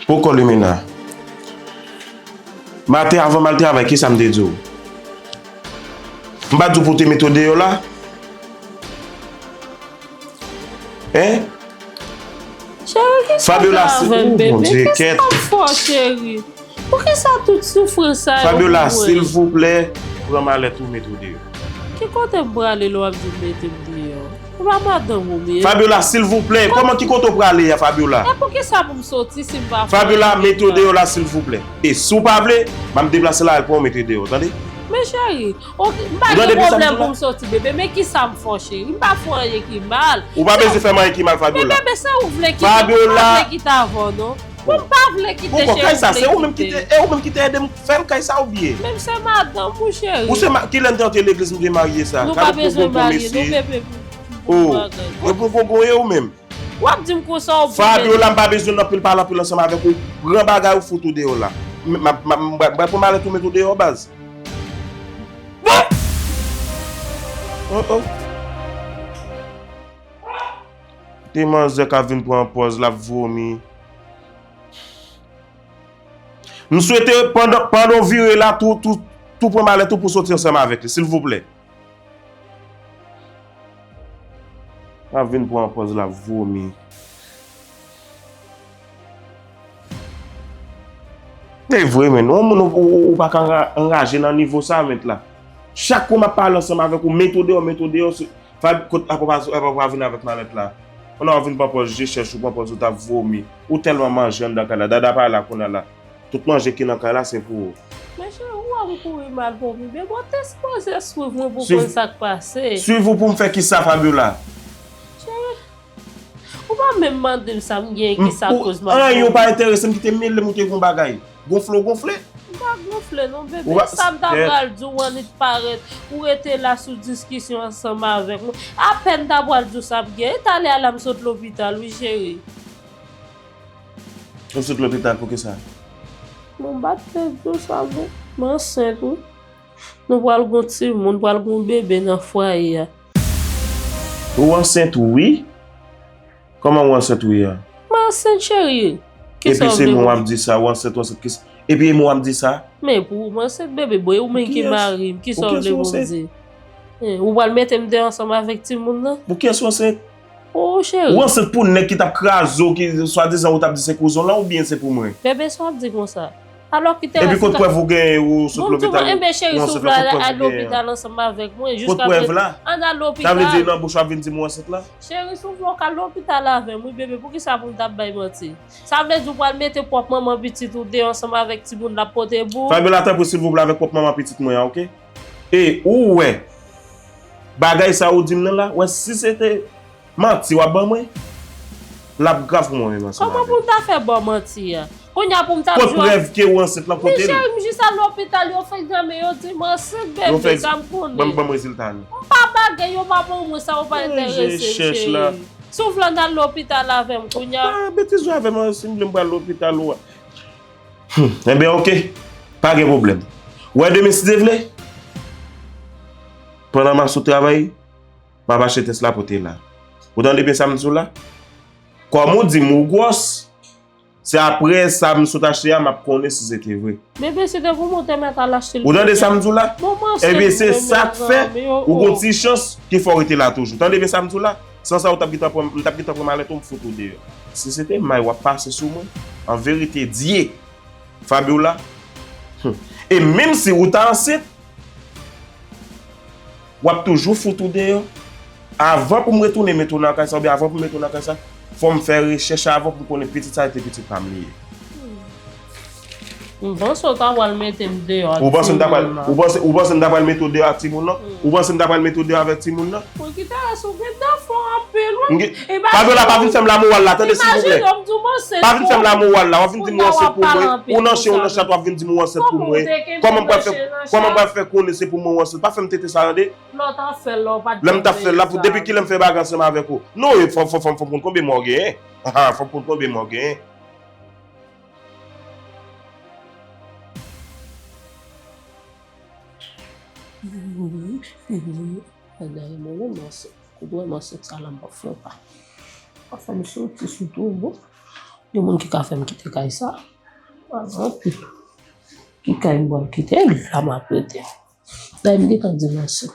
Poko limena. Mate avan mal travay ki sa m te di w? M pa di w pou w te mete w deyò la? Hein? Cheri, kisa w gen avè m bebe? Kisa w fò cheri? Poukisa tout soufrans sa yo pou mwen. Fabiola silvouplè pran malèt ou mete w deyò. Ki kote m prale lè w ap di m mete m deyò? Ou pa madanm ou menm. Fabiola silvouplè kòman ki kote w prale a Fabiola. E poukisa pou m soti si m pa fè anyen. Fabiola mete w deyò la silvouplè. E si w pa vle m ap deplase la al pran w mete deyò w tande. Men cheri ok m pa gen pwoblèm pou m soti bebe men kisa m fè w cheri m pa fè w anyen ki mal. Ou pa bezwen fè m anyen ki mal Fabiola. Men bebe sa ou vle ki ta vò non. Mwen m pa vle kite Poko kay sa se ou menm kite e ou menm kite edem fèl kay sa ou byen. Menm se madanm ou cheri. Ou se ma kilè mte antre legliz mte marye sa. Nou pa bezwen marye nou bebe pou bon bagay. Ou bon bon bon e ou menm. Wap dim konsa ou bon bebe. Fabiola m pa bezwen nan pil pale anpil ansanm avèk ou pran bagay ou fout ou deyò la. M pral pran malèt ou met ou deyò baz. Bon! Oh oh. Ti manzè ka vin pran pòz lap vomi. M swete pandan w vire la tou tou pran malèt ou pou w soti ansanm avèk li silvouplè. Ka vin pran pòz lap vomi. Se vre men, yon moun ou pa ka anraje nan nivo sa met la. Chak kou map pale ansanm avèk ou met ou deyò, met ou deyò, Vibe kot la papa zo epa pa vin avèk malèt la ou la wap vin panpòz je chèch ou panpòz ou tap vomi ou tèlman manje anndan kay la dada pa la kounya la tout manje ki nan kay la se pou ou. Mesye ou wèm kouri mal vomi beboo te sipoze swiv mwen pou konn sak pase. Swiv ou poum fè kisa Fabiola. Cheri ou pa menm mandem sam gen kisa koz map vomi. Anyen ou pa enteresem kite melem ou te gon bagay. gonfle ou gonfle. M pa gonfle non bebe. Sa m ta pral di w an li t pa ret. Ou rete la sou diskisyon ansanm avèk mwen. Apèn m ta pral di w sa p gen. E talè a la m sot lopital wi cheri. Ou sot lopital pou kisa? Bon m pa t vle di w sa men m ansent wi. Nou pral gen yon timoun, pral gen yon bebe nan fwaye a. Ou ansent wi. Koman ou ansent ou ye a? Mwen ansent cherie. Kisa ou vle pou. Epi se mwen wap di sa ou ansent ou ansent kis. Epi e mwen wap di sa. Men pou ou mwen ansent bebe bon e ou menm ki mari m kisa ou vle pou m di. Ou pral mete m deyò ansanm avèk timoun nan. Pou kiyès ou ansent? Pou ou cherie. Ou ansent pou nèg ki tap kraze w ki swadizan ou tap di se kouzen w lan oubyen se pou mwen? Bebe sa wap di konsa. Alò ki tè la si ta Bon tou va enben cheri si w vle al al lopital ansanm avèk mwen jiska prezan Ann al lopital Cheri si w vle w ka al lopital avèm wi bebe poukisa pou m t ap bay manti Sa vle di w pral mete pwòp manman pitit ou deyò ansanm avèk timoun l ap pote pou Fabiola tanpri silvouplè avèk pwòp manman pitit mwen an ok E ou wè bagay sa ou di m nan la wè si se te Manti wap ban mwen? Lap grav pou mwen menm ansanm avèw. Koman poum ta fè baw manti an? Kounya poum tap diw. Kot prèv kew ansent lan kotel? Michel m jis al lopital yo fenk granmen yo dim ansent bebe sa m konnen. Yo fenk banm rezilta nou. M pa bagay yo pa banm mwen sa yo pa enterese m cheri. Si w vle ann al lopital avèm kounya. Pa betiz jwe avèm an sim vle m pral lopital ou a. Humm enben ok pa gen pwoblèm. Wè demen si Dye vle. Pandan map sot travay. Map achte tès la pote la. Ou tande byen sa m di w la? Kòm ou di m ou gwòs, se aprè sa m sot achte a map konnen si se te vre. Bebe se tankou mwen te mèt al achte l pou ou. Ou tande sa m di w la? Ebyen se sa k fè ou gon ti chans ke fò w rete la toujou. Tande byen sa m di w la? San sa ou tap gentan pran, m tap gentan pran malèt ou m fout ou deyò. Si se te may wap pase sou mwen, an verite Dye, Fabiola, hum, e menm si ou ta ansent, Wap toujou fout ou deyò? Avan pou m retounen mete w nan kay sa oubyen avan pou m mete w nan kay sa, fò m fè rechèch avan pou m konnen pitit sa rete pitit pa m li ye. M panse w ta pral mete m deyò ak timoun nan. Ou panse ou panse m ta pral mete w deyò ak timoun nan? Ou panse m ta pral mete w deyò avèk timoun nan? Poukita rès ou gentan fò anpil wi. Fabiola pa vin fèm la moral la tande silvouplè pa vin fèm la moral la wap vin dim ou ansent pou mwen ou nan chen ou nan chat wap vin dim ou ansent pou mwen kòman pral fè kòman pral fè konnen se pou mwen ou ansent pa fèm tenten sa tande lèm tap fèl la pou depi kilèm fè bagay ansanm avèk ou non e fò fò fò fòm konn konbyen mwa ou genyen haa fòm konn konbyen mwa ou genyen. Koubouè mwen sot sa lan bòf mwen pa. Pa fèm soti sou tou bon. Gen moun ki ka fèm kite kay sa. Mwen mwen pi. Ki kay mwen mwen kite li la mwen prete. Dèy mwen detan di mwen sou.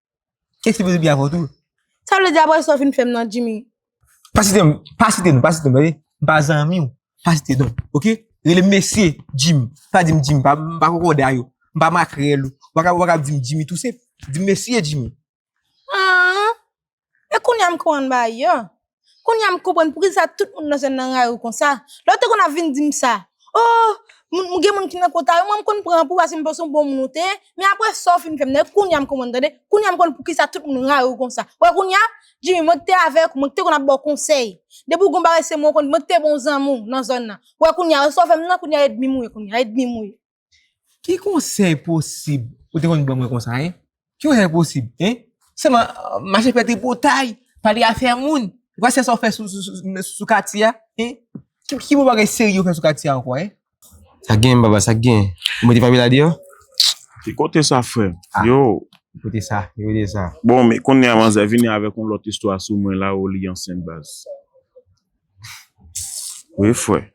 E si bouzen byen avon tou. Sa vle di apre sa ou fin fèm nan Jimmy. Pa site m, pa site nou, pa site m tande. M pa zanmi w, pa site non. Ok? Rele m mesye Jimmy. Pa di m Jimmy, m pa konkòde a yo. M pa makrèl ou. Ou pa kab di m Jimmy tou senp. Di m mesye Jimmy. An! E kounya m konprann bagay yo. Konya m konprann pou ki sa tout moun nan zòn nan rayi w konsa. Lè w te konn ap vin di m sa, Oh, m gen moun ki nan kota yo, mwen m konn pran pou w paske m panse w bon moun ou te ye, men aprè sa w fin fè m nan yo, konya m konprann tande, konya m konn pou ki sa tout moun rayi w konsa. Ou wè konya, Djimi, mwen ki te avèk ou, mwen ki te konn ap ba w konsèy, depi w gen yon bagay se mwen ou konn, mwen ki te bon zanmi w nan zòn nan. Ou wè konya, wè sa w fè m nan, konya edmi m ou ye konya, edmi m ou ye. Ki konsèy posib ou te konn ban mwen konsa hein? Ki konsèy posib hein? Sèlman mache fè tripotay, pale afè moun. Ou pa se sa ou fè sou katye a hein? Ki bon bagay serye ou fè sou katye a ankò hein? Sa k genyen baba, sa k genyen? Ou mete Fabiola deyò? Ki kote sa frè m? Yo! Ki kote sa? Ki kote sa? Bon men kounye a manzè vini avèk yon lòt istwa sou mwen la ou li ansent baz. Wi frè.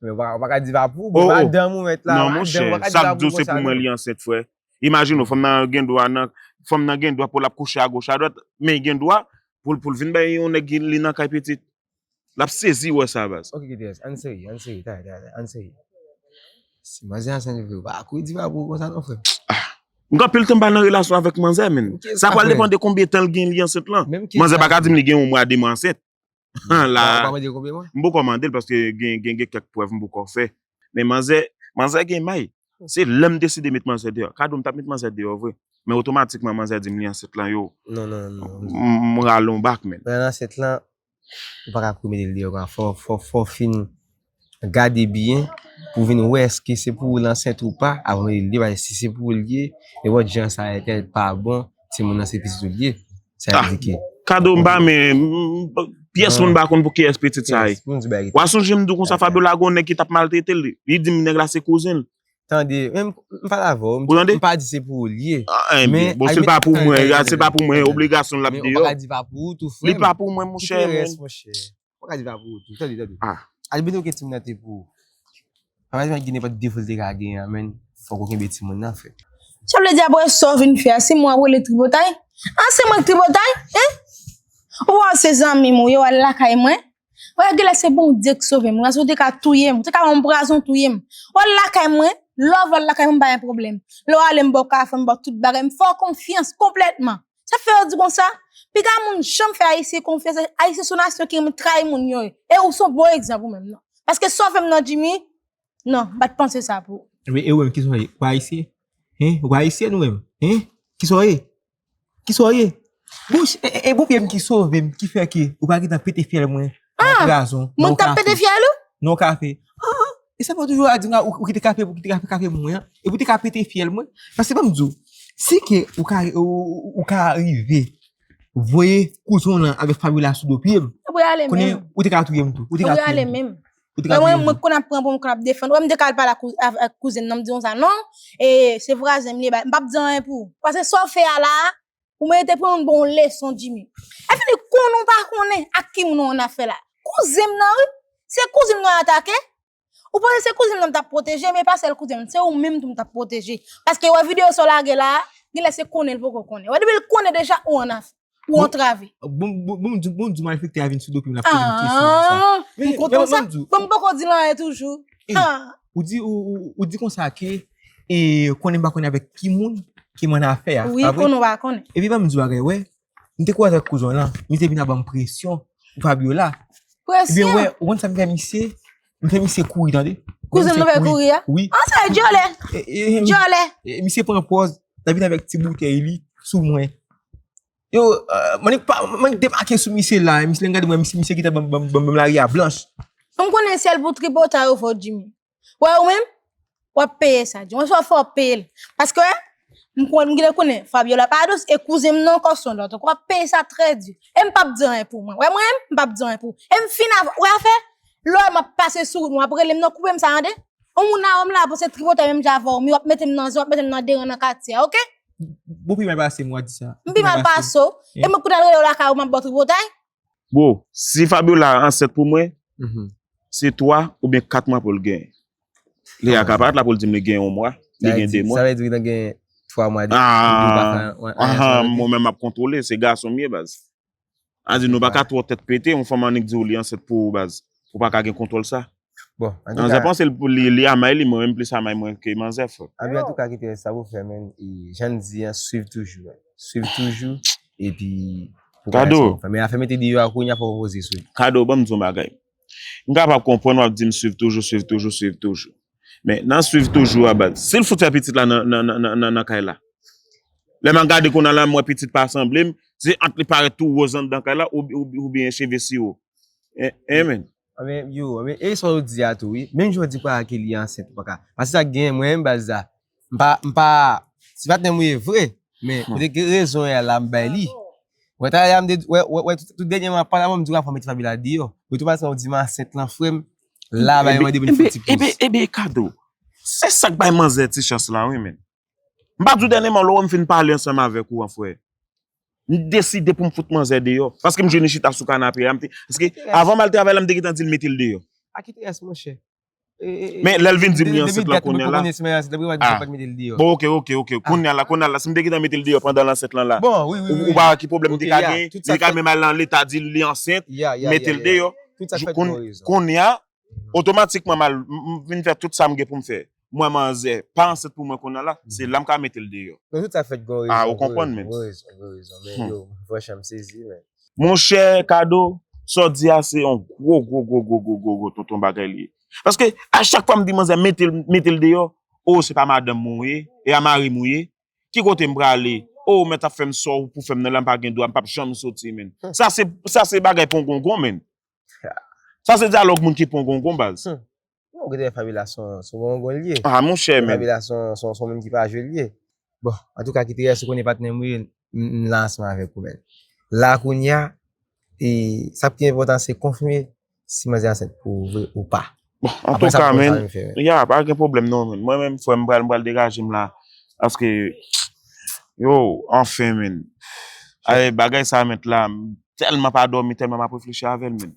Mwen wak a di va pou, mwen wak a dan mwen wet la. Non mwen chè, sa k diw se pou mwen li ansent fwe. Imagine ou, fom nan gen dwa nan, fom nan gen dwa pou lap kouche a goch a dwat, men li gen dwa pou l vin bay yon neg li nan kay pitit. Lap sezi we sa baz. Ok Gts, an seri, an seri, ta ta ta, an seri. Si manze ansent vre, wak a kouri di va pou konsa non fre. Ah! M gen anpil tan m pa nan relasyon avek manze menn. Sa pral depan de konbyen tan l gen li ansent lan. Manze pa ka dim li gen yon mwa, de mwa ansent. Ou La, pa mande konpliman? m poko mande l paske gen gen gen kèk prèv m poko fè. Men manzè, manzè gen may. Se lè m deside met manzè deyò. Kado m t ap met manzè deyò vre, men otomatikman manzè di m li ansent lan yo, Non, non, non, non, non. m rale yon bak menn. Lè l ansent lan, ou pa ka kou mete l deyò kon sa. Fò, fò, fò w fin Gade byen pou vin wè eske se pou ou l ansent ou pa avan ou mete l deyò paske si se pou ou l ye e wè jan sa e tèl pa bon timoun nan se pitit ou l ye sa vle di ke Kado m pa men pyès moun m pa konn pou kiyès pitit sa ye Wa sonje m di w konsa Fabiola gen yon nèg ki t ap maltrete l li di m nèg la se kouzen l Tande menm m pale avè w m pa di se pou ou l ye men Bon si l pa pou mwen si l pa pou mwen obligasyon l ap deyò Li pa pou mwen monchè Fok Alvin pa pou ou tou. Tande, tande. Ah. Alvin ok timoun nan te pou ou. Papa Alvin ki nenpòt defo li te ka genyen an menn fok ou kenbe timoun nan fre. Sa vle di aprè sa w vin fè a se mwen wap rele tripotay? Ah se mwen k tripotay? Hein? Ou pa wè se zanmim ou ye wal lakay mwen? Wè gèlè se Bondye k sove m. Razon te ka touye m. Te ka banm prazon touye m. Wal lakay mwen? Lè w al lakay mwen m pa gen pwoblèm. Lè w ale m ba w kafe m ba w tout bagay. M fè w konfyans konplètman. Sa fè yo di konsa? Piga moun janm fè Ayisyen konfyans, Ayisyen son nasyon ki renmen trayi moun yo. E ou son bon egzanp ou menm nan. Paske sa w fè m nan Jimmy, nan, m pa t panse sa pou ou. Ebyen e ou menm kisa w ye? Ou pa Ayisyen? Hein? Ou pa Ayisyèn ou menm? Hein? Kisa w ye? Kisa w ye? Bouch e bon pye m ki sove m ki fè ke ou pa gentan pete fyèl mwen Nan yon krason. Mwen tap pete fyèl ou? Nan yon kafe. Haa. E sa pa ou toujou a di m la ou kite kafe pou kite kafe pou mwen an? E pou te ka pete fyèl mwen? Paske ban m di w. Si ke ou ka ou ka rive voye kouzen w lan avèk Fabiola sou do pye m. Ou pa ale menm. Konnen ou te ka touye m tou. Ou te ka touye m tou. Ou pa ale menm. Ou te ka touye m tou. Mwen mwen konn ap pran pou m konn ap defann. Ou wè m te ka al pale ak kouzen nan m di w sa non. E se vwazen m li e ba. M pap di anyen pou ou. Paske sa w fè a la a. Ou merite pran yon bon leson Jimmy. Epi li konnen ou pa konnen ak ki moun ou an afè la. Kouzen m nan wi. Se kouzen m nan y atake. Ou panse se kouzen m nan m t ap pwoteje men e pa sèl kouzen m. Se ou menm tou m t ap pwoteje. Paske wè videyo sa w lage la a, gen lè se konnen l poko konnen. Wè depi l konnen deja ou an afè. Ou antrave. Bon m di w, bon m di w malfektè a vin sou do pou vin ap poze m kesyon konsa. Aah! M kontan sa. Bon m poko di l anyen toujou. Aah! Ou di ou di konsa ke e konnen pa konnen avèk ki moun ki manda fè a. Ou ye konnen ou pa konnen. E pi pa m di wagè wè. M te kou avèk kouzon lan. M te vin avèm presyon pou Fabiola. Presyon? Ou konn sa m fè misye? M fè misye kouri tande. Kouzon nou fè kouri a? Oui. An sa e djolè. Djolè. Misye pran pòz. La vin avèk ti boutèy li sou mwen. Yo, mwen nik pa, mwen nik debake sou misye la, misye lè gade mwen, misye, misye kite banm, banm, banm lari a blanch. M konnen sèl pou tripotay ou fò Jimmy. Wè ou menm, wap peye sa Jimmy. Yon jou wap fè wap peyel. Paske wè, m konnen, m genlè konnen Fabiola pa dous e kouzen m nan ankò son lòt ankò. Wap peye sa trè di. E m pap di anyen pou mwen. Wè mwen menm, m pap di anyen pou ou. E m fin avè, wè afè, lè w wè map pase sou ou nou ap rele m nan koupe m sa tande. Ou moun a wè m la pou se tripotay menm jan avè ou mi wap mete m nan zen, wap mete m nan deran nan katye a ok. Bro, pi mal pase mwen di sa. M pi mal pase w. E mwen kou ta rele w la ka ou map baw tripotay. Bro, si Fabiola ansent pou mwen, se 3 ou byen 4 mwa pou l gen. Li a ka pa la pou l di m li gen 1 mwa, li gen 2 mwa. Sa vle di li nan gen 3 mwa. Aah, mwen menm map kontrole, se gason m ye baz. Andy nou paka twò tèt pete, yon fanm annik diw li ansent pou ou baz, ou paka gen kontwòl sa. Bon, antouka. Manzè panse li amay li, mwen menm plis amay mwen ke manzè frè. Andy antouka kite rès sa pou fè men, e jann di an swiv toujou, swiv toujou epi pou gade sa pou fè. Men afè mete deyò a kounya fòk ou poze sou li. Kado, banm di yon bagay. M kapab konprann wap dim swiv toujou, swiv toujou, swiv toujou. Men nan swiv toujou a baz. Sil fout fè pitit la nan kay la. Lè map gade kounal la mwen pitit pa sanblem. Se ant li parèt tou woz andan kay la oubyen cheve siwo. Hein men. Anben yo. Anben e sa ou di a tou wi. Menm jan ou di pa a ke li ansent ou paka. Pase sa genyen mwen menm baz la. Mpa, mpa, se patnèm ou ye vre, men kote ke rezon y'a la m'bay li. Wè talè y'a m'te, wè, wè, wè tout dènyèman ap pale avèm m'di wap fè mete Fabiola deyò. Otomatikman ou di m ansent lan frèm, la bagay mande pou n fè ti poz. Eben, eben, eben Kado, se sak bay manzè ti chans la wi men. M'pa di w dènyèman lè wè m fin pale ansanm avèk ou an frè, m'deside pou m fout manzè deyò, paske m'jwenn li chita sou kanape a, m'te, paske avan m'al travay la m'te gentan di l mete l deyò. Aki te rès monchè? Men lèl vin dim li ansent lan kounya la. Bon ok ok ok kounya la kounya la si m te gentan metel deyò pandan l ansent lan la ou pa wè ki pwoblèm m te ka gen m te ka menm al nan leta dil li ansent m metel deyò kounya otomatikman mal m fin fè tout sa m gen pou m fè m wè manzè pa ansent pou mwen kounya la se la m ka metel deyò. Ou konprann menm. Monchè kado, sa w di a se yon gwo gwo gwo gwo gwo gwo gwo tonton bagay li ye. Paske a chak fwa m di manzè mete l mete l deyò, oo se pa madanm mwen ou ye, e a mari m ou ye, ki kote m prale, oo mèt ap fè m sa w pou fè m nan la m pa gen dwa m pap janm soti menn. Sa se sa se bagay pongongon menn. Sa se dyalòg moun ki pongongon baz. Bon ou genlè Fabiola son son bon gon liye. Ah monchè men. Fabiola son son son moun ki pa jwe liye. Bon antouka Kiteres ou konnen patnèm ou ye m la ansanm avèk ou men la kounya e sa ki enpòtan se konfime si manzè ansent pou ou vre ou pa. Bon antouka men ya pa gen pwoblèm non men mwen menm frèm m pral m pral degaje m la paske yoww anfen men ayy bagay sa mèt la m tèlman pa dòmi tèlman m ap reflechi avèl men.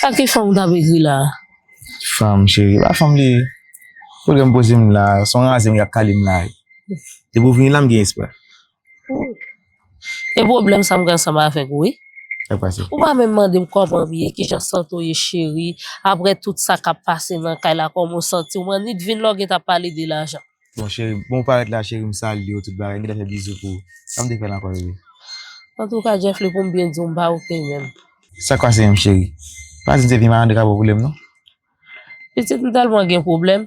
Sa ki fanm kap ekri la. Fanm cheri pa fanm li ye. Kote m poze m la, son raze m yap kale m la. Depi w vini la m gen espwa. E pwoblèm sa m gen ansanm avèk ou wi. Sa k pase? Ou pa menm mande m kòman m ye, kijan sante w ye cheri, aprè tout sa kap pase nan kay la kòman w santi w m annik vin lòk e ta pale de lajan. Bon cheri bon ou parèt la cheri m salye w tout bagay m gentan fè bizou pou ou sa m te fè l ankò rere. Antouka Jeffly pou m byen di w m pa ok menm. Sa k pase menm cheri? Pa di m se vye malandrin k ap anboule m non. Pitit m tèlman gen pwoblèm.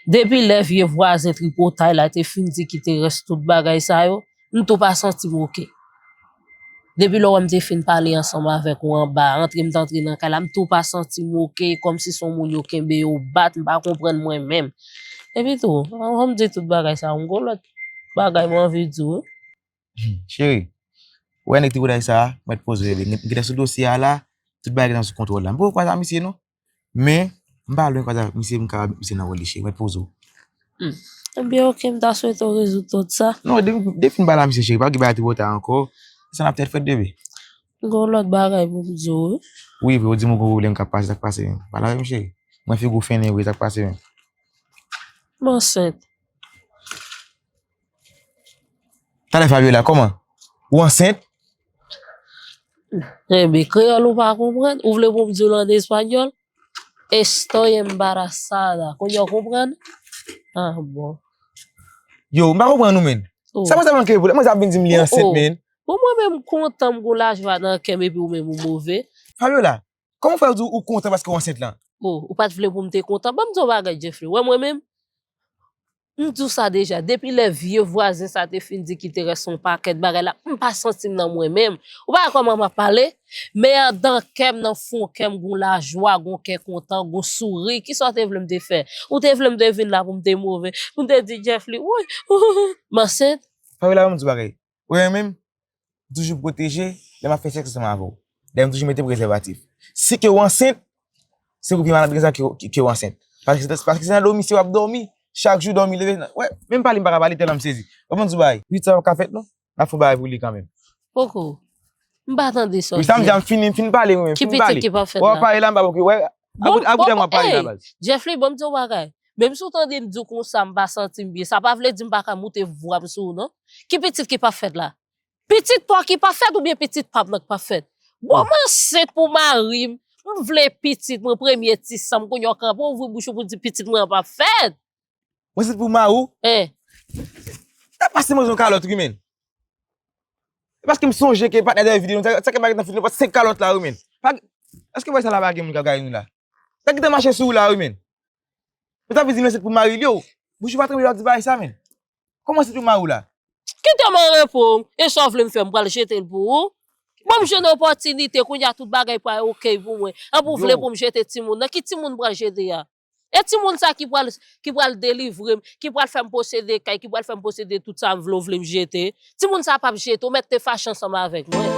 Depi lè vye vwazen tripotay la te fin di ki te rès tout bagay sa yo M tou pa santi m ok. Depi lè w wè m te fin pale ansanm avèk ou anba, antre m te antre nan kay la, m tou pa santi m ok, kòmsi se yon moun yo kenbe, yo bat, m pa konprann mwen menm. Epi tou, anvan m di tout bagay sa yo, m gen lòt bagay m anvi di w wi. Cheri, wè nèg tripotay sa a, mèt poze li, m gen tèt sou dosye a la, tout bagay gen tan sou kontwòl la. M poko kwè sa misye non. Men, m pa lwen pale ak misye, m kab met misye nan wòl li cheri. Mwen poze w. Hum. Ebyen ok, m ta swete w rezoud tout sa. Non, depi m pale ak misye cheri, pa gen bagay twò ta ankò. Sa n ap fè fèt bebe. M gen yon lòt bagay pou m di w wi. Wi, vre, ou di m ou gen yon pwoblèm k ap pase, sa k pase menm? Pale avè m cheri. Mwen figi w fennen vre, sa k pase menm? M ansent. Talè Fabiola, kòman? Ou ansent? Rebe, kreyòl ou pa konprann? Ou vle pou m di w an espanyòl? Estoy embarazada. Kounye a w konprann? Ah bon. Yo, m pa konprann ou menn. Sa mwen sa manke pou la? Mwen sa ap vin di m li ansent menn? Bon mwen menm m kontan m gon lajwa nan kè m epi ou menm ou move? Fabiola, Kòman ou fè ou di ou kontan paske ou ansent lan? Oh, ou pa t vle pou m te kontan? Ban m di w yon bagay, Jeffrey, ou wè mwen menm? M di w sa deja, depi lè vye vwazen sa a te fin di Kiterès yon pakèt bagay la, m pa santi m nan mwen menm. Ou pa wè kòman m ap pale? Men andan kè m, nan fon kè m, gen yon lajwa, gen yon kè kontan, gen yon souri. Kisa w te vle m te fè? Ou te vle m te vin la pou m te move? Pou m te di Jeffrey, Woy! Ou! M ansent? Fabiola, ban m di w yon bagay. Ou renmen m? M toujou pwoteje lè m ap fè sèks ansanm avè w. Dayè m toujou mete prezèvatif. Si ke w ansent, se pou pi mal antrenezan ke w ansent. Paske se nan dòmi se w ap dòmi. Chak jou dòmi leve. Wè, menm pale m pa ka pale tèlman m sezi. W konprann sou bagay? Ui, sa pa ka fèt non. N ap fè yon bagay pou li kanmenm. Poko. M pa tande sa w di a. Ui, sa m di a m fini, m fin pale mwen menm. Ki pitit ki pa fèt la? Wè w ap pale la m pa poko. Wè, Bon, bon, bon, bon, ey, Jeflin, bon m di w bagay. Menm si w tande m di w konsa m pa santi m byen, sa pa vle di m pa ka moute vwa m sou w non. Ki pitit ki pa fèt la? Pitit pa w ki pa fèt oubyen pitit pa m nan ki pa fèt? Bon, m ansent pou mari m, m vle pitit mwen, premye ti san m, kounye a w kanpe w ouvri bouch ou pou w di pitit mwen an pa fèt? Mwen se pou ma ou. E. Sa pa se mwen zon kalot ri men. E paske m sonje ke patne de vide nou. Sa ke baget nan foute nou pat se kalot la ri men. Fak. Eske mwen sa la bagen mwen ka gay nou la. Sa ki te mache sou ou la ri men. Mwen ta pe di mwen se pou ma ou li ou. Bouche ou pa tremble lè w ap di bagay sa men. Kou mwen se pou ma ou la. Kite m an repo. E sa w vle m fè m pral jete l pou ou. Bon m jwenn opotinite kounye a tout bagay pral ok pou mwen. Epi w vle pou m jete timoun nan. Ki timoun m pral jete a. E timoun sa ki pral ki pral delivre m, ki pral fè m posede kay, ki pral fè m posede tout sa m vle ou vle m jete? Timoun sa pap jete, ou mèt te fache ansanm avèk mwen.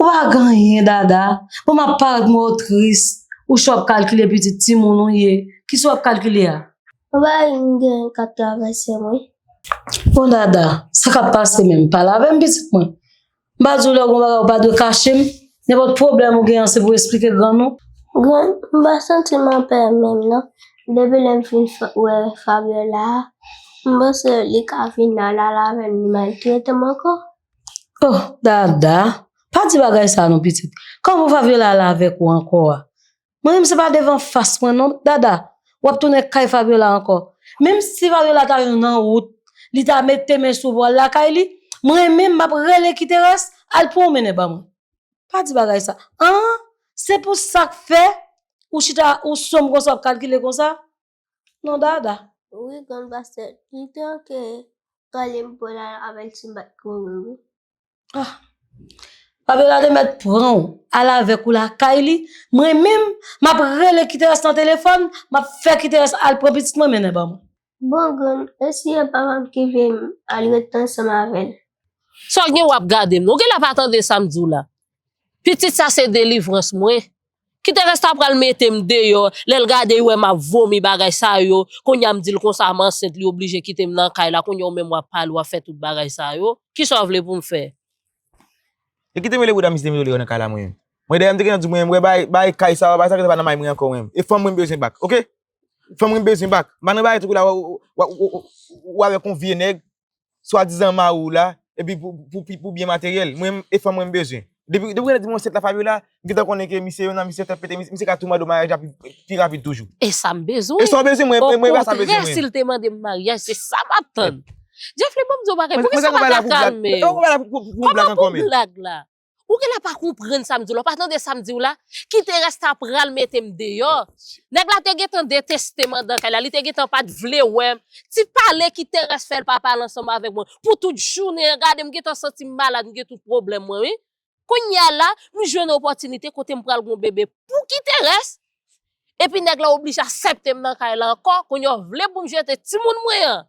Ou pa k anyen Dada, bon m ap parèt mwen o tris, ou chwa ap kalkile pitit timoun ou ye, ki sa w ap kalkile a? Ou pa wè m gen kat travèse mwen? Bon Dada, sa k ap pase menm? Pale avè m pitit mwen. M pa di w lè w gen yon bagay ou pa dwe kache m, nenpòt pwoblèm ou gen an se pou w esplike grann ou. Grann, m pa santi m anpè menm non, depi lè m fin wè Fabiola a, m panse li ka vin al avè m, li maltrete m ankò. Oh Dada, pa di bagay sa non pitit. Kòman ou va vle lala avèk ou ankò a? Mwen menm se pa devan fas mwen non Dada, w ap tounen kay Fabiola ankò. Menm si Fabiola ta yon nan wout, li ta mete men sou vwal lakay li, mwen menm m ap rele Kiteras al pwonmennen ba mwen. Pa di bagay sa. An! Se pou sa k fè ou chita ou sonb konsa w ap kalkile konsa? Nan dada. Wi grann pastè li te ok pale m pwèl al avèl si m pat kouri wi. Ah Fabiola te mèt pran w al avèk ou lakay li mwen menm map rele kiterès nan telefòn map fè kiterès al pran pitit mwen mennen ban mwen. Bon grann e si e papa m ki vle m al ret ansanm avèl. Sa w gen wap gade m non gela pa tande sa m di w la pitit sa se delivrans mwen Kite res la pral metem deyò lèl gade u wè map vomi bagay sa yo kounya m dil konsa m ansent li oblije kitem nan kay la kounya ou menm wap pale wap fè tout bagay sa yo kisa w vle poum fè. Yo kitem rele bouda misye demizole yo nan kay la mwen mwen dèyè m te gentan di mwen wè bay kay sa bay sa ki te pa nan may mwen ankò mwen e fanm mwen m bezwen bak ok fanm mwen m bezwen bak m pa nan bay tout kou la wap wè kon vye nèg swadizan mari w la epi pou byen materyèl mwen e fanm mwen m bezwen. Depi ou gentan di m ansent la Fabiola, m gentan konnen ke misye yon nan misye fè pete misye ka twoubadou maryaj la pi rapid toujou. E sa m bezwen. E sa w bezwen mwen mwen pa sa m bezwen mwen. Okontrè si l te mande m maryaj se sa m ap tann. Djefle ban m di yon bagay poukisa w pa ta kalme w. Koman pou blag la? Ou genlè pa konprann sa m di w la, ou pa tande sa m di w la, kite rèsta pral mete m deyò. Nèg la te gentan deteste m andan kay la, li te gentan pa t vle wè m. Ti pale kiterès fè l pa pale ansanm avèk mwen pou tout jounen an, gade m gentan santi m malad, m gen tout pwoblèm mwen wi. Kounye a la, m jwenn opòtinite kote m pral gen yon bebe pou kiterès, epi nèg la oblije asèpte m nan kay la ankò, kounye a w vle pou m jete timoun mwen an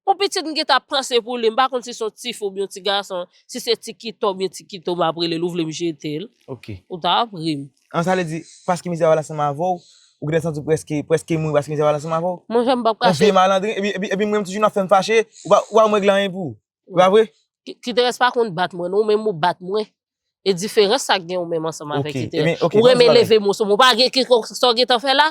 On pitit m gentan ap panse pou li, m pa konn si se yon tifi oubyen yon ti gason, si se ti kito oubyen ti kito m ap rele l ou vle m jete l, ou ta ap ri m. An sa vle di, paske mizè a pral ansanm avè w, ou gentan santi w prèske, prèske mouri paske mizè a pral ansanm avè w? Monchè m p ap kache. On vye malandren, epi, epi, epi m renmen m toujou nan fè m fache, ou pa, ou pa janm regle anyen pou ou. Se pa vre? Kiterès pa konn bat mwen non, ou menm ou bat mwen. E diferans sa gen ou menm ansanm avèk Kiterès. Ou renmen leve mo sou mwen, ou pa gen, sa w gentan fè la?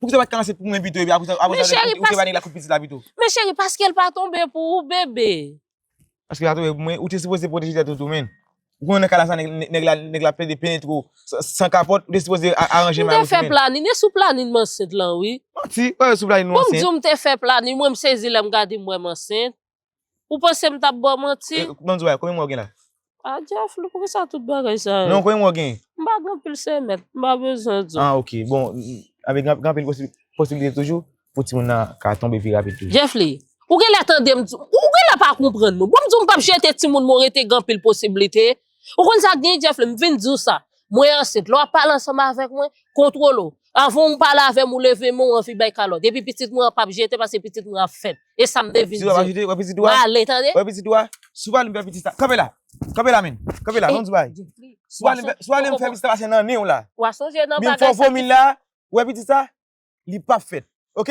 Pou ki sa ou pa t ka lanse pou mwen pito epi apre sa ou te ba nèg la kout pitit la pito? Men cheri paske l pa tonbe pou ou bebe. Paske l pa tonbe pou mwen ou te sipoze pwoteje tèt ou tou menn. Ou konnen nan ka la sa nèg la plede penetre ou san kapòt ou te sipoze aranje may ou tou menn. M te fè planin e sou planin m ansent lan wi. Manti, ou pa wè sou planin ou ansent. Pou m di w m te fè planin mwen m sezi lè m gade m wè m ansent. Ou panse m tap baw manti? E, banm di w bagay, konbyen mwa w gen la? A Djaflou, pou kisa tout bagay sa yo? Non, konbyen mwa w gen? M pa gen anpil semèt, m pa bezwen di w. Ah ok, bon, avè gen anpil posibilite toujou pou timoun nan ka tonbe pi rapid toujou. Djaflou, ou genlè tande m di w, ou genlè pa konprann mwen. Bon m di w m pap jete timoun mwen rete gen anpil posibilite. Ou konn sa gen Jeff m vin diw sa Mwen ansent lè wap pale ansanm avèk mwen kontwole w avanw pale avèm ou leve men ou anvi bay kalòt epi pitit mwen an pap jete pase pitit mwen ap fèt esam te vin diw pale tande. Sou pa li m fè pitit sa kanpe la kanpe la menn kanpe la non di bagay sou pa li m sou pa li m fè pitit sa pase nan nenw la menn fò vomi la ou wè pitit sa li pap fèt ok.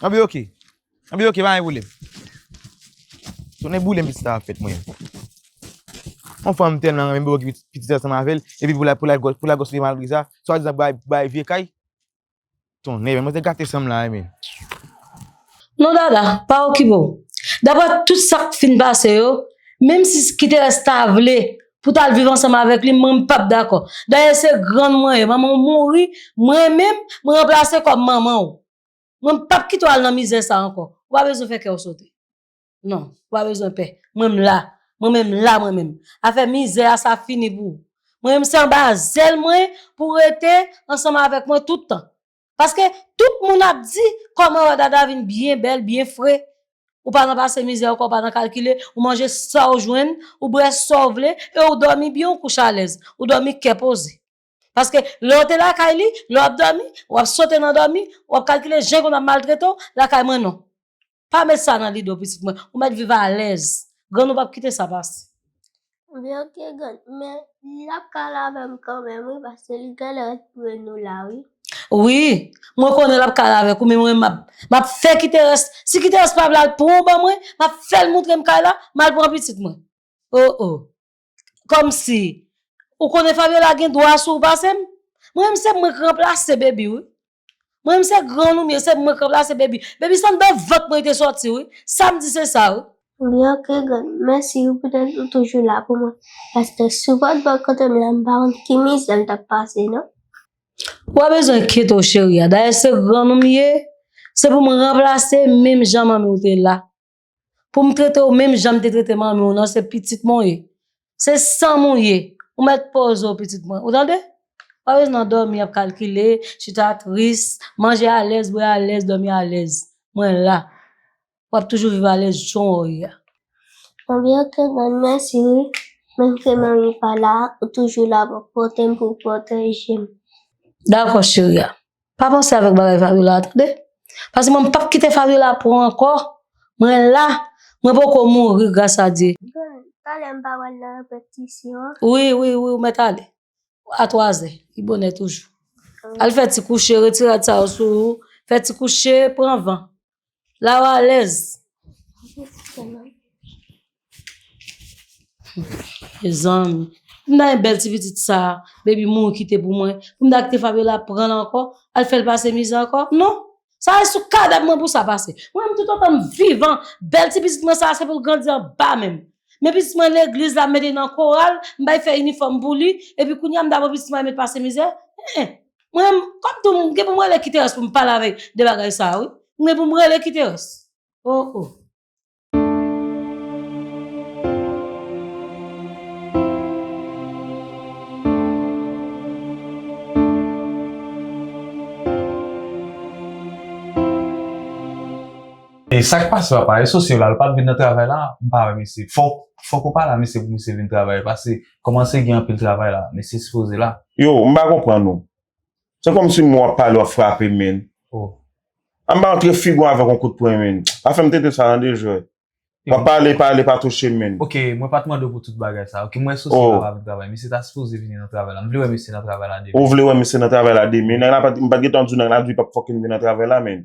An bi ok. An bi ok pa gen pwoblem. Tounen boule m piti a fèt mwen. Yon fanm m tèlman renmen m poko gen piti ansanm avèl epi pou la pou la pou la gòsifye malgre sa. Swa dizan bay bay vye kay. Tonnè men mwen te gate san m la men. Non dada, pa okipe w. Daprè tout sa k fin pase yo, menm si Kiteres ta vle pou w ta al viv ansanm avèk li, mwen m pap dakò. Dayè se grann mwen ye, manman w mouri, mwen menm, mwen ranplase kòm manman w. Mwen m pap kite w al nan mizè sa ankò. Ou pa bezwen fè kè w sote. Non, ou pa bezwen pè. Mwen m la. Mwen menm m la mwen menm. Afè mizè a sa fini pou ou. Mwen menm se anba zèl mwen pou w rete ansanm avèk mwen tout tan. Paske tout moun ap di kòman Wadada vin byen bèl, byen fre, ou pa nan pase mizè ankò, ou pa nan kalkile, ou manje sa w jwenn, ou bwè sa w vle, e ou dòmi byen ou kouche alèz, ou dòmi kè poze. Paske lè w te lakay li, lè w ap dòmi, w ap sote nan dòmi, w ap kalkile jan l konn ap maltrete w, lakay mwen non. Pa met sa nan lide w pitit mwen. Ou mèt viv alèz. Grann ou pap kite sa pase. Ebyen ok grann. Men li ap ka al avè m kanmenm wi paske li genlè retounen nou la wi. Wi. Mwen konnen l ap ka al avèk ou men mwen m ap fè Kiterès. Si Kiterès pa vle al pran w ban mwen, m ap fè l montre m kay la, m al pran pitit mwen. O o. Kòmsi Ou konnen Fabiola gen dwa sou ou pase m? Mwen menm se mwen k ranplase Baby wi Mwen menm se gran Loumie se mwen k ranplase Baby Baby se anndan vant mwen li te sòti wi Sa m di se sa wi. Loumie Ok grann Mèsi wi poutèt ou toujou la pou mwen Paske sou vant bò kote m la m pa konn ki mizè m t ap pase non. Ou pa bezwen kite w cheri a Dayè se gran Loumie se pou m ranplase menm jan manmi w te la Pou m trete w menm jan m te trete manmi w nan, se pitit mwen w ye. Se san m ou ye. Ou mèt poze w pitit mwen. Ou tande? Ou pa bezwen nan dòmi ap kalkile, chita tris, manje alèz, bwè alèz, dòmi alèz. Mwen la. W ap toujou viv alèz jan w ye a. Manmi ok grann mèsi wi. Menm ke manmi pa la, ou toujou la pou w pote m, pou w pwoteje m. Dakò cheri a. Pa panse avèk bagay Fabiola a tande. Pase mwen m pap kite Fabiola pran ankò. Mwen la, mwen poko mouri gras a Dye. Bon, talè m pa pral nan repetisyon an? Wi, wi, wi ou mèt ale. A twazè, li bonè toujou. Al fè ti kouche, retire rad sa yo sou ou, fè ti kouche, pran van. La ou alèz. Mezanmi. Pou m ta gen bèl ti pitit sa a, Baby mouri kite pou mwen, pou m ta kite Fabiola pran l ankò, al fè l pase mizè ankò? Non! Sa se sou kadav mwen pou sa pase. Mwen menm toutotan m vivan, bèl ti pitit mwen sa a se pou l grandi anba men m. Men pitit mwen legliz la, m mete l nan koral, m bay fè inifòm pou li, epi kounye a m ta pran pitit mwen al met pase mizè? Hein! Mwen menm, kòm tou m gen pou m rele Kiterès pou m pale avèk de bagay sa a wi. M gen pou m rele Kiterès. O o. E sa k pase papa? Esosye la, l pa t vin nan travay la? M pa wè misye. Fòk ou pa la misye pou misye vin travay pase Komanse gen anpil travay la mesye sipoze la. Yo, m pa konprann ou. Se kòm si mwen wap pale wap frape m menn. Oh. An m pa antre figu an avèk yon kout pwen menn. Pa fè m tete sa nan de jwèt. Wap pale pale pa touche m menn. Ok, mwen pat mande w pou tout bagay sa. Ok, m wè sosye la pa vin travay. Mesye ta sipoze vini nan travay la. M vle wè mesye nan travay la demen. Ou vle wè mesye nan travay la demen. Nèg la pat, m pat gentan di w nèg la di pap fòkè m vin nan travay la menn.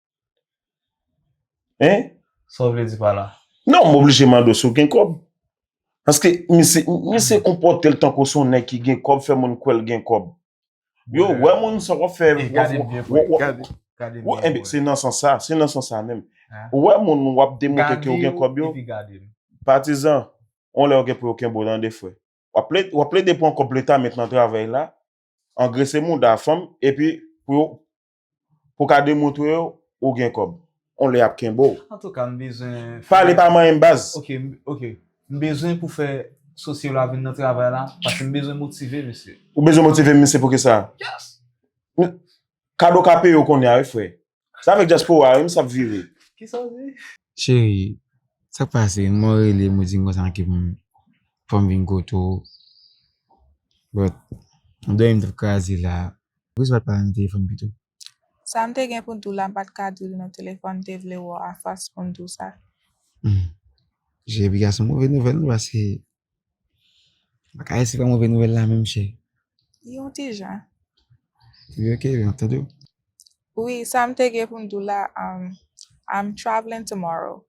Hein? Sa w vle di pa la? Non, m oblije mande w si w gen kòb. Paske misye, misye konpòte l tankou se yon nèg ki gen kòb, fè moun kwè l gen kòb. Yo wè moun sa w ap fè. E gade m byen pou w gade, gade m byen pou w wè. Enben, se nan sans sa, se nan sans sa menm. Ou wè moun w ap demontre ke w gen kòb yo. Gade w epi gade m. Patizan, yon lè ou gen pou yo kenbe w tande frè. W ap plede, w ap plede pran kòb leta met nan travèy la, angrese mouda fanm epi pou yo, Pou ka demontre yo ou gen kòb. On lè yap kenbe'w. Antouka m bezwen fè. Pale pa manyenm baz. Ok ok m bezwen pou fè sosye la vin nan travay la paske m bezwen motive misye. Ou bezwen motive misye pou kisa? Yes. Kado ka peye w kounye a wi frè. Sa avèk dyaspora wi misye ap vire. Kisa w di? Cheri, sa k pase? Mwen rele m ou di m konsa manke m fò m vin kote w. But, m dòmi m t ap kraze la. Poukisa w pa t pale nan telefòn pito? Sa m te gen pou m di w la m pa t ka di w li nan telefòn, m te vle wè w afas pou m di w sa. Cheri, piga se yon move nouvèl non paske Bakay se pa move nouvèl la menm chè. Yon ti jan. Wi ok, m ap tande w. Wi, sa m te gen pou m di w la, I'm traveling tomorrow.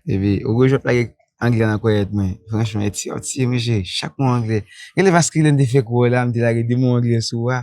Epi, ou gou jwèt lage anglè nan kòyèt mwen. Franchman, e ti, ou ti mesye, chak mo anglè. Gen lè vaskilen te fèk wè w la, m te lage 2 mo anglè sou ou a.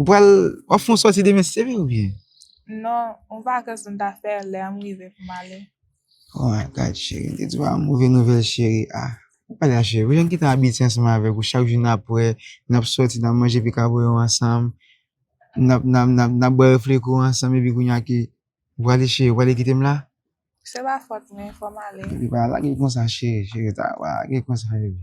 Ou pral, wap fon soti demen se vre ou byen? Non, on vakans m ta fè lè anm rive pou m ale. Oh my God cheri, m te di w a move nouvèl cheri ah. Ou pa la cheri, pou jan m kite abitye ansanm avèk ou chak jou nap wè, nap soti, nap manje pikaboyon ansanm, nap nap nap nap bwè refleko ansanm epi kounya ke ou prale cheri, ou prale kite m la? Se pa fòt mwen, fò m ale. Epi pa lage l konsa cheri, cheri ta wa lage l konsa bebe.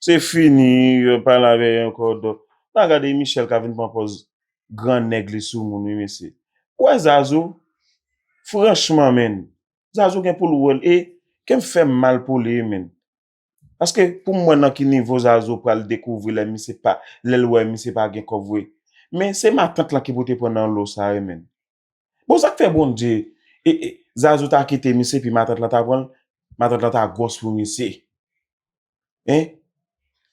Se fini yo pa la veye anko dok. Na gade Michel ka vin pran pòz gran nèg li sou moun wi mesye. Ou wè Zazou? Franchman menn. Zazou gen poul wèl e kem fem mal pou li wi menn. Paske poum wè nan ki nivo Zazou pral dekouvri lè misye pa lèl wè misye pa gen kòb vre. Men se matant lan ki pou te pran nan lo sa wi menn. Bon sak fè Bondye ee Zazou ta kite misye epi matant lan ta pranl matant lan ta gwòs pou misye hein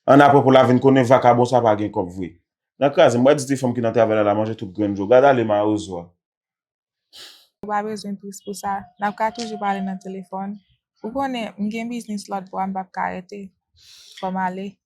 an aprè pou la vin konnen vakabon sa pa gen kòb vre nan krazem wè di ti fanm ki nan travèl la la manje tout grenn dlo gad ale mawozo a. Ou pa bezwen tris pou sa, nap ka toujou pale nan telefòn, ou konnen m gen biznis lòt bò a m pap ka rete, fò m ale.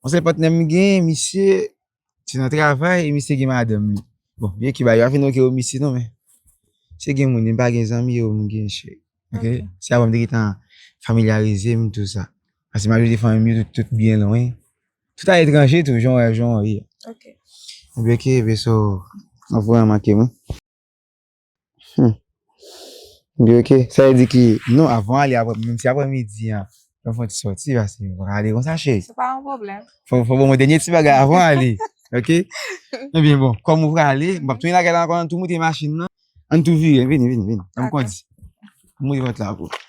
Mwen se patnè m gen, misye se nan travay e misye gen madanm li. Bon, byen ki ba yo avin ok yo misye non men. Se gen moun, m pa gen zanmi yo m gen chè. Ok, se avan m te getan familyarize m tou sa. Pase m al vizite fanmi m yo tout tout byen lwen. Tout a etranje tou, jan w wè, jan w ye. Ok. Ebyen ok, ebyen so, m ap voye manke m wi. Humm. M di ok. Sa vle di ki non avan ale aprè menm si aprè midi an fè m fè yon ti sòti paske m paka ale konsa cheri. Se pa yon pwoblèm. Fò w ban mwen dènye ti bagay avan w ale ok. Ebyen bon kòm ou prale m pap tounen lakay la ankò an tou moute machin nan an tou vire vini vini vini an m kondi. M ouvri pòt la pou ou.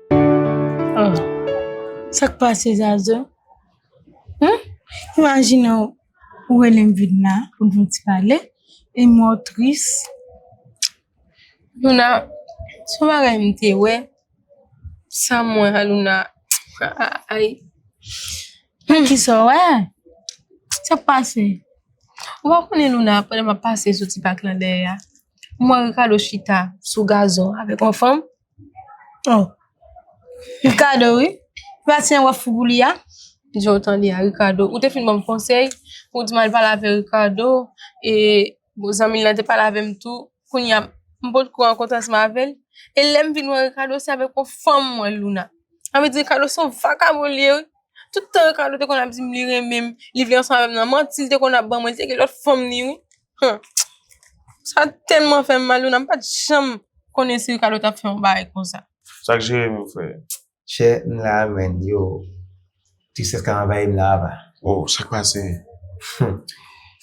Oh, sa k pase Zazu? Hum? Imajine w, ou rele m vin la pou n fè yon ti pale, e m wè w tris. Luna, son bagay m te wè, sa m wè a Luna, ay. Men kisa w wè? Sa k pase? Ou pa konnen Luna, pandan m ap pase soti pak lan dèyè a, m wè Ricardo chita sou gazon avèk yon fanm? Oh Ricardo wi Pratisyen wap fou pou li a. Janw tande li a Ricardo ou te fin banm konsèy pou w di m al pale avè Ricardo e zanmi l lan te pale avèm tou kounya m potko an kontans m avèl e lèm vin wè Ricardo se avèk yon fanm m wè l Luna sa vle di Ricardo se yon vakabon li ye wi tout tan Ricardo te konn ap di m li renmen m li vle ansanm avèm nan manti l te konn ap ban mwen li te gen lòt fanm ni wi. Hum sa telman fèm mal Luna m pat janm konnen si Ricardo tap fè yon bagay konsa. Sak Jérémie fè? Chè m la a menn yo tristès ka anvayi m la a va. Oh sak pase? Hum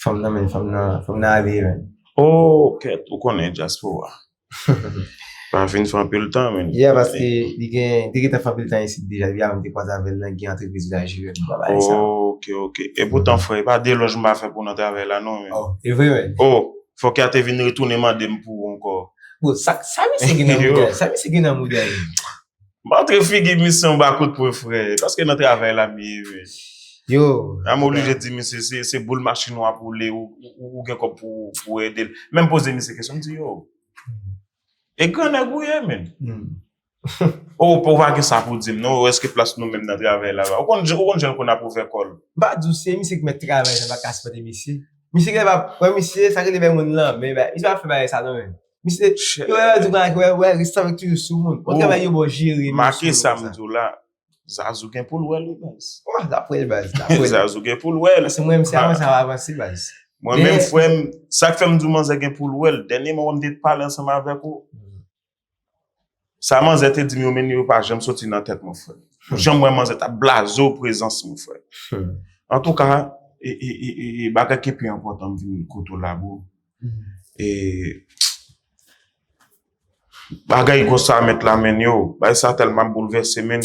fanm nan menn fanm nan ale menn. Oh kèt ou konnen dyaspora. Pa fin fè anpil tan menn. Yeah paske li gen, li te gentan fè anpil tan isit deja depi avan m te kwaze avè l nan gen antrepriz li la jiyèt nou pa pale sa. Ok ok. Epoutan frè e pa delòj m va fè pou w nan travay la non menn. Oh e vre menn. Oh fòk ya te vin retounen mande m pou ou ankò. Bon sa misye gen nan moudal? Sa misye gen nan moudal? Montre figi misye yon ba kout pwen frè paske nan travay la m ye wi. Yo. La m oblije di misye se se boul machin w ap woule ou gen kòb pou ou ede l. Menm poze misye kesyon m di yo. E gran nèg ou ye menn. Ou ou pa gen sa pou di m non ou èske plas nou menm nan travay la ba. Ou konn ou konn jan l konn ap ouvè kò l. M pa di w se misye ki mèt travay sa m pa ka sipòte misye. Misye gen lè m ap wè misye sa rele bay moun lanmen misye pa fè bagay sa non menn. Misye chè. Yo wè di pran ak wè wè resta wè toujou sou moun. Bon travay yo bon jere moun. Make sa m di w la. Zazou gen pou l wè li baz. Wah lap wè l baz lap wè l. Zazou gen pou l wè l. Pase mwen menm se avanse ap avanse baz. Mwen menm frè m sak fè m di w manzè gen pou l wè l dènyeman wè m te pale ansanm avèk ou. Sa manzè te dim yo menn yo pa janm soti nan tèt mwen frèm. Ou janm wè manzè tap blaze w prezans mwen frèm. Antouka e bagay ki pi enpòtan m vin kote w la bro. E bagay konsa met la menn yo. Bagay sa tèlman boulvèse menn.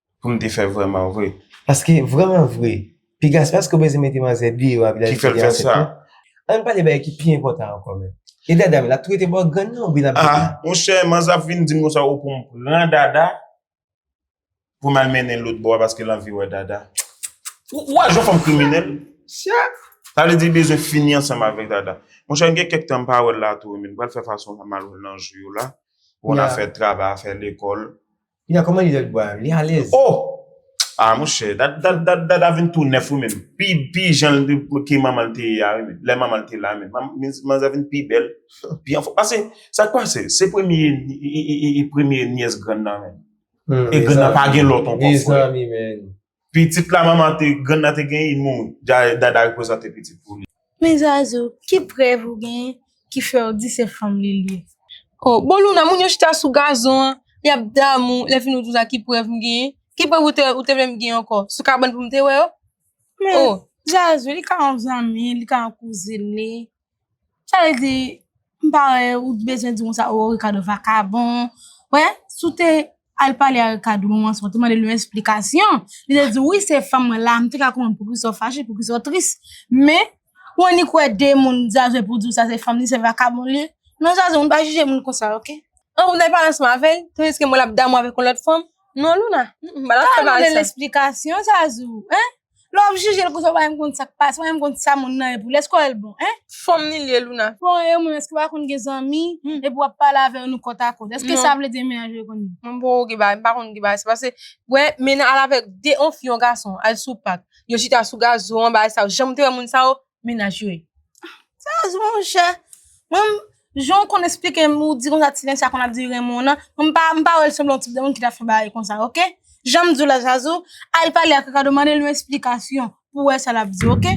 pou m te fè vrèman vre. Paske, vrèman vre, piga se paske w bezwen mete manzè deyò a epi l al etidye ansent lan. An n pale bagay ki pi enpòtan ankò menm. E dada m l ap tou rete bò grann nan oubyen l ap vin. A, monchè, manzè ap vin di m konsa ou pou m pran dada pou m al mennen l lòtbò a paske l anvi wè dada. Ou wè jan fanm kriminèl? Sa vle di li bezwen fini ansanm avèk dada. Monchè, m gen kèk tan m pa wè l la tou men m pral fè fason pou m al wè l nan jou yo la pou yon afè travay, afè lekòl. Kounya kòman li lèl bwa yo? Li alèz? Oh! Ah monchè, Dada vin tou nèf wi menn. Pi pi jan ke manmanl te ye a wi menn. Lè manmanl te la menn. Manzè vin pi bèl, pi anfòm. Pase, sa k pase? Se premye, e premye nyès grann nan menn. E grann nan pa gen lòt ankò frè. Mezanmi menn. Pitit la manman te grann nan te genyen mouri. Dada reprezante pitit pou li. Men Zazou, ki prèv ou genyen ki fè w di se fanm li l ye? O, bon Louna, moun yo chita sou gazon an, y ap damou, lè fini w di w sa ki prèv m genyen? Ki prèv ou te vle m genyen ankò? Sou kabann pou m te wè yo? Men Zazou, li ka yon zanmi, li ka yon kouzin li. Sa vle di, m pa wè ou t bezwen di moun sa oh Ricardo vakabon. Wè, si w te al pale a Ricardo nan moman sa w te mande l yon esplikasyon, li te di wi se fanm mwen la, m te ka konprann poukisa w fache, poukisa w tris. Men, ou annik wè de moun zazou epi w di w sa se fanm li, se vakabon l ye. Non zazou, moun pa jije moun konsa ok. An ou t al pale ansanm avè l, tandiske m wè l ap damou avèk yon lòt fanm. Non Louna, m pa t al pale ansanm. Sa w mande l esplikasyon zazou, hein? Lè wap jijel konsa ou pa menm konn sak pase, ou pa menm konn sa moun nan ye pou li, eske wèl bon hein? Fanm li liye Louna. Bon e ou menm eske ou pa konn gen zanmi epi wap pale avè yo nou kòt a kòt eske sa vle di mennaj ou e konn li. Mwen poko gen bagay, mpa konn gen bagay se pase wè mennaj al avèk 2 yon fi yon gason al sou pak yo chita sou gazo an bagay sa yo janm te wè moun sa yo Minaj yo ye. Sa a zwen ou chè. Mwen, jan ou konn esplike m, ou di kon sa Tilencia konn ap di renmen w nan, mwen m pa, m pa wè l sanble yon tip de moun ki ta fè bagay kon sa ok. Jan m di w la Zazou, al pale ak Ricardo mande l yon esplikasyon pou wè sa l ap di w ok.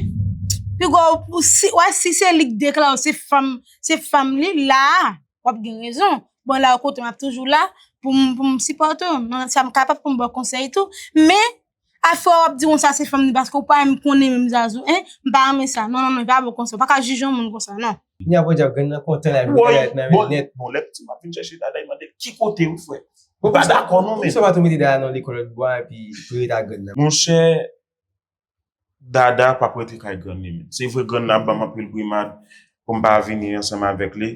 Pi gwo, pou si, wè si se li k deklare w se fanm, se fanm li, la a, w ap gen rezon. Bon la ou kote m ap toujou la pou m, pou m sipòte w nan sa m kapab pou m ba w konsèy tou. Men, A fwa wap di yon sa se fanm li paske ou pa menm konnen menm zazou hein m pa renmen sa non non non e pa bon konsa ou pa ka jije yon moun konsa non. Kounya podyab grann nan kontan la vin bagay nan menl nèt. Bon lè pitit m ap vin chèche dada li mandel ki kote wi frè m pa dakò non men. Poukisa w pa tou mete dada nan lekòl lòt bò a epi pou yo ret ak grann nan. Monchè Dada pap rete kay grann li menm. Se vre grann nan ap banm anpil brimad poum pa vini ansanm avèk li,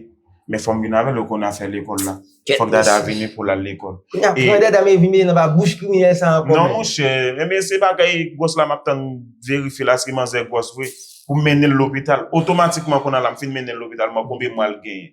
men fòm vin avèl yo konn afè lekòl la. Kèt Fòk Dada mesi. vini poul al lekòl. Kounya E pran dada men vin mete nan ba bouch kriminèl sa ankò Non menm. monchè, ebyen se bagay gwòs la map tann verifye la si manzè gwòs vre, poum mennenl lopital, otomatikman kounye a la m fin mennenl lopital m wè konbyen mwa l genyen.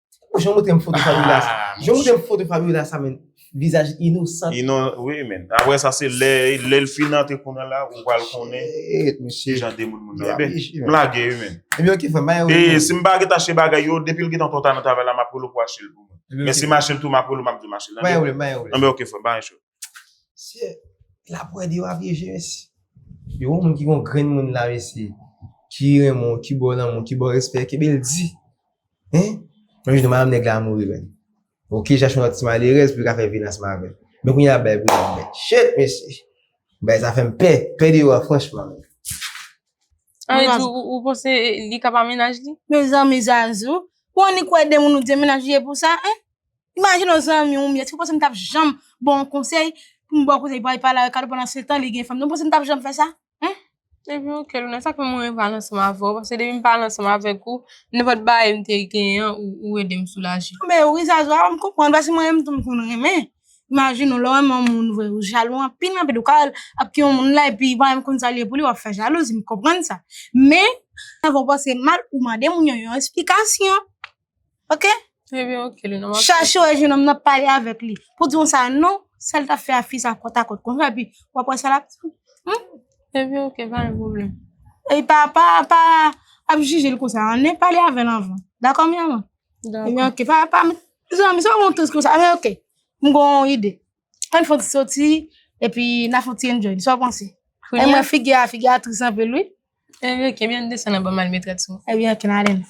Ou jan moutre m foto Fabiola sa. Jan moutre m foto Fabiola sa men. Vizaj inosant. Inosant. Ou e men. Apre sa se lè. Lè l fin nan te konnen la. Ou pral konnen. Eeeet mesye. Jan de moun moun. Emen. M lage e men. Emen ok fè. Baye ou. E si m baget ache bagay yo. Depi l gen ton ton ta nan travay la. M ap rele w pou ache l pou mwen. Emen ok fè. Men si m ache l tou m ap rele w m ap di w m ache l. Baye ou. Baye ou. Emen ok fè. Baye ou. Mesye, la prod yo a pyeje mesye. Yo wè yon moun ki gon grenn moun la mesye. Ki renmen w, ki ba w lanmou, ki ba w respè, kenbe l di. Hein? Yon jou madam nèg la mouri menn. Ok, chache yon lòt ti malerèz pou l ka fè vil ansanm avè l. Men kounye a l bay pou dam nan. Shit mesye! Bagay sa fè m pè. Pè deyò a franchman. Annik, ou panse li ka pa mennaj li? Mezanmi Zazou, ou annik wè de moun ou di se mennaj li ye pou sa, hein? Imajine yon zanmi ou m ye, èske w panse m t ap janm ba w yon konsèy pou m ba w konsèy pou w al pale avèk Ado pandansetan li gen fanm nan? Ou panse m t ap janm fè sa? Epi ok Louna, sa k fè mwen renmen pale ansanm avè w, paske depi m pale ansanm avèk ou, nenpòt bagay m te genyen an, ou ede m soulaje. Anben, ou ri zazwa a, m konprann, paske mwen menm tou m konn renmen. Imajine w, lè w renmen yon moun vre, ou jalou anpil anpil, ou ka al ap gen yon moun la epi ou pa menm konn sa l ye pou li, w ap fè jalouzi, m konprann sa. Men, sa fè w panse mal, ou mande moun yon yon esplikasyon. Ok? Ebyen ok, li nan map chèche. Chèche wè jenòm nan pale avèk li. Pou di yon sa non, sa li tap fè a fi sa kòt a kòt kon sa epi wap wè sa lap di. Ebyen ok, pa gen pwoblèm. E pa, pa, pa ap jije l konsa an, nen pale avè l anvan. Dakò mi amò? Dakò. Ebyen ok, pa, pa, zanmi sa w gen yon tris konsa, ebyen ok, m gen yon ide. Ann fon ti soti, epi n a fon ti enjoy li, sa w panse? E mwen figi a, figi a tris anpil wi. E mwen ke mwen desan nan ban mal metrèt sou. E mwen ke nan alen.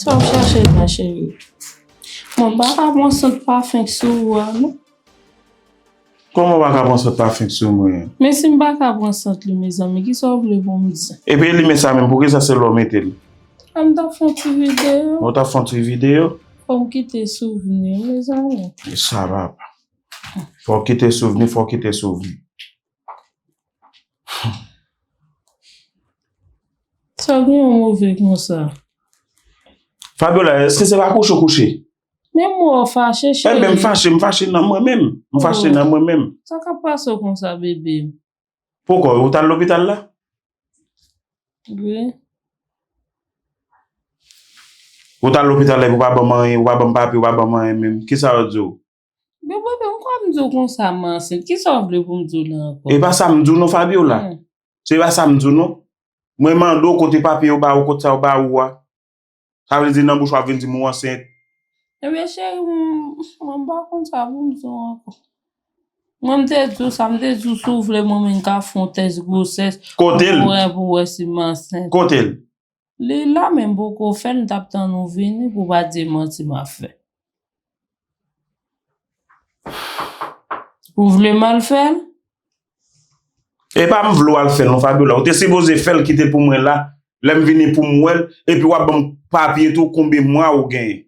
Sa w chache la cheri? Mwen pa ka pran sant pafen k sou ou a non. Kòman w pa ka pran sant pafen sou mwen? Men si m pa ka pran sant li mezanmi ki sa w vle pou m di? E pi li men sa menm poukisa se la w mete l? An m t ap fè yon ti videyo. Ou t ap fè yon ti videyo? Fò m kite souvni mezanmi. Sa va pa. Fò w kite souvni fò w kite souvni. Sa gen yon move konsa. Fabiola, eske se pa kouche ou kouche? Men mwen wè w fache cheri. Enben m fache, m fache nan mwen menm. M fache nan mwen menm. Sa kap pase w konsa bebe m? Poko, ou t al lopital la? Wi. Ou t al lopital la epi ou pa banm anyen, ou pa banm papye, ou pa banm anyen menm. Kisa yo di w? Men boo m kwè m di w konsa m ansent ki sa w vle pou m di w la ankò. E pa sa m di w non Fabiola. Se pa sa m di w non. Mwen mande w kote papye yo ba ou kote sa yo ba ou a. Sa vle di nan bouch ou ap vin di m ou ansent. Ebyen cheri m mwen pa konn sa pou m di w ankò. Mwen m te di w sa m te di w si w vle mwen menm ka fon tès gwosès pou mwen pou wè si m ansent. Kote l? Li la men poko fè m tap tann ou vini pou pa di e manti ma fè. Ou vle m al fè l? E pa m vle w al fè l non Fabiola, ou te sipoze fè l kite pou mwen la lè m vini pou m wè l epi wap banm papye tou konbe mwa ou genyen.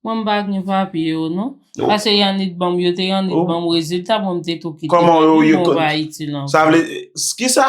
Mwen m pa gen papye yo non. Pase Yanick banm yo te Yanick banm rezilta mwen m te tou kite Fabie mwen pa Ayiti non. Sa vle kisa?